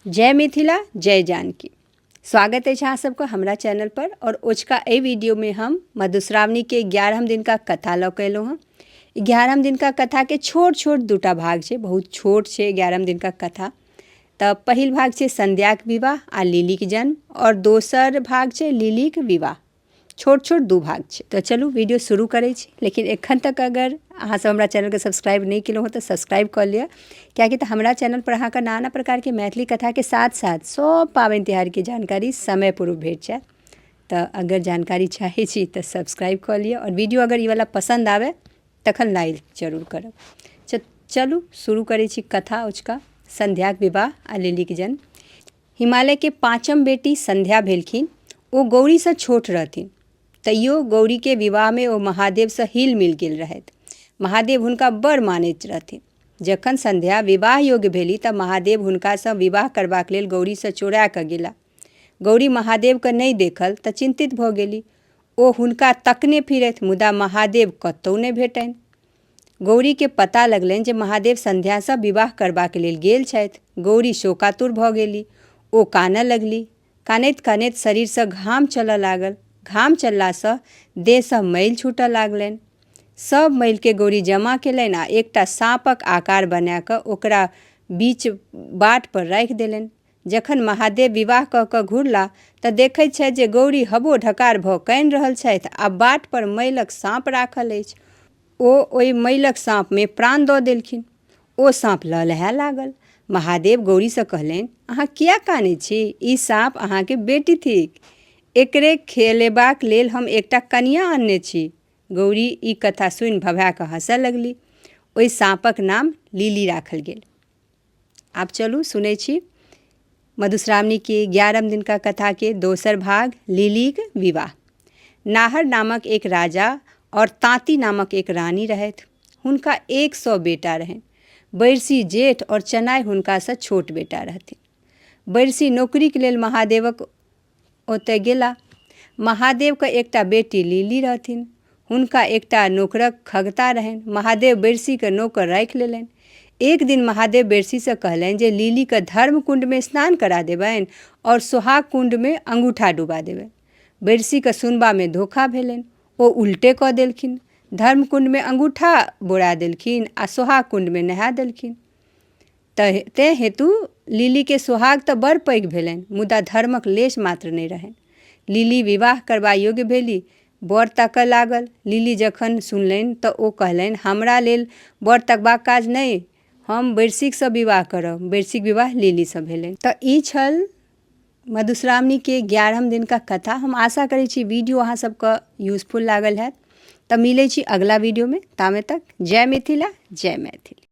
जय मिथिला जय जानकी स्वागत अछि अहाँ सबके हमरा चैनल पर और ओझका एहि वीडियो में हम मधुश्रावणी के ग्यारहम दिन का कथा लऽ के एलहुँ हँ ग्यारहम दिन का कथा के छोट छोट दूटा भाग छै बहुत छोट छै ग्यारहम दिन का कथा तऽ पहिल भाग छै संध्याक विवाह आ लिलीक जन्म और दोसर भाग छै लिलीक विवाह छोट छोट दू भाग छै तऽ चलू वीडियो शुरू करै छी लेकिन एखन तक अगर अहाँ सब हमरा चैनलके सब्सक्राइब नहि केलहुँ हँ तऽ सब्सक्राइब कऽ लिअ किएकि तऽ हमरा चैनलपर अहाँके नाना प्रकारके मैथिली कथाके साथ साथ सब पाबनि तिहारके जानकारी समय पूर्व भेट जायत तऽ अगर जानकारी चाहै छी तऽ सब्सक्राइब कऽ लिअ आओर वीडियो अगर ई वाला पसन्द आबे तखन लाइक जरूर करब च- चलू शुरू करै छी कथा उचका संध्याक विवाह आ लिलीके जन्म हिमालयके पाँचम बेटी संध्या भेलखिन ओ गौरीसँ छोट रहथिन तैयो गौरीके विवाहमे ओ महादेवसँ हिल मिल गेल रहथि महादेव हुनका बड़ मानैत रहथिन जखन संध्या विवाह योग्य भेली तऽ महादेव हुनकासँ विवाह करबाक लेल गौरीसँ चोरा कऽ गेला गौरी महादेवके नहि देखल तऽ चिन्तित भऽ गेली ओ हुनका तकने फिरथि मुदा महादेव कतहु नहि भेटनि गौरीकेँ पता लगलनि जे महादेव संध्यासँ विवाह करबाक लेल गेल छथि। गौरी शोकातुर भऽ गेली। ओ कानऽ लगली। कानैत-कानैत शरीरसँ घाम चलऽ लागल। घाम चललासँ देहसँ मैल छूटऽ लागलनि। सभ मैलकेँ गौरी जमा केलनि आ एकटा साँपक आकार बना कऽ ओकरा बीच बाटपर राखि देलनि। जखन महादेव विवाह कऽ कऽ घुरला तँ देखैत छथि जे गौरी हबो ढकार भऽ कानि रहल छथि आ बाट पर मइलक साँप राखल अछि। ओ ओहि मइलक साँपमे प्राण दऽ देलखिन। ओ साँप लहलहाए लागल। महादेव गौरीसँ कहलनि, अहाँ किए कानैत छी? ई साँप अहाँकेँ बेटी थिक। एकरे खेलेबाक लेल हम एकटा कनियाँ अनने छी। गौरी ई कथा सुनि भभाए कऽ हँसए लगली। ओहि साँपक नाम लीली राखल गेल। आब चलू सुनै छी मधुश्रावणी के ग्यारहम दिन का कथा के दोसर भाग लिलीक विवाह नाहर नामक एक राजा और तांती नामक एक रानी रहथि हुनका एक सौ बेटा रहनि बैरसी जेठ और चनाय हुनकासँ छोट बेटा रहथिन बैरसी नौकरीक लेल महादेवक ओतय गेला। महादेव क एकटा बेटी लीली रहथिन। हुनका एकटा नोकरक खगता रहनि। महादेव बैरसी क नोकर राखि लेलनि। एक दिन महादेव बैरसी सँ कहलनि जे लीली क धर्म कुण्ड मे स्नान करा देबनि और सोहाग कुण्ड मे अंगूठा डुबा देबनि। बैरसी क सुनबा मे धोखा भेलनि। ओ उल्टे क देलखिन। धर्म कुण्ड मे अंगूठा बोरा देलखिन आ सोहाग कुण्ड मे नहा देलखिन। तैं हेतु लिली के सोहाग त बड़ पैघ भेलनि मुदा धर्मक लेश मात्र नहि रहनि। लिली विवाह करबा योग्य भेलि। बर ताकय लागल। लिली जखन सुनलनि त ओ कहलनि हमरा लेल बर तकबाक काज नहि। हम बैरसीक सँ विवाह करब। बैरसीक विवाह लिली सँ भेलनि। त ई छल मधुश्रावणी के ग्यारहम दिन क कथा। हम आशा करै छी वीडियो अहाँ सब क यूजफुल लागल हैत। त मिलै छी अगिला वीडियो मे। तामे तक जय मिथिला जय मैथिली।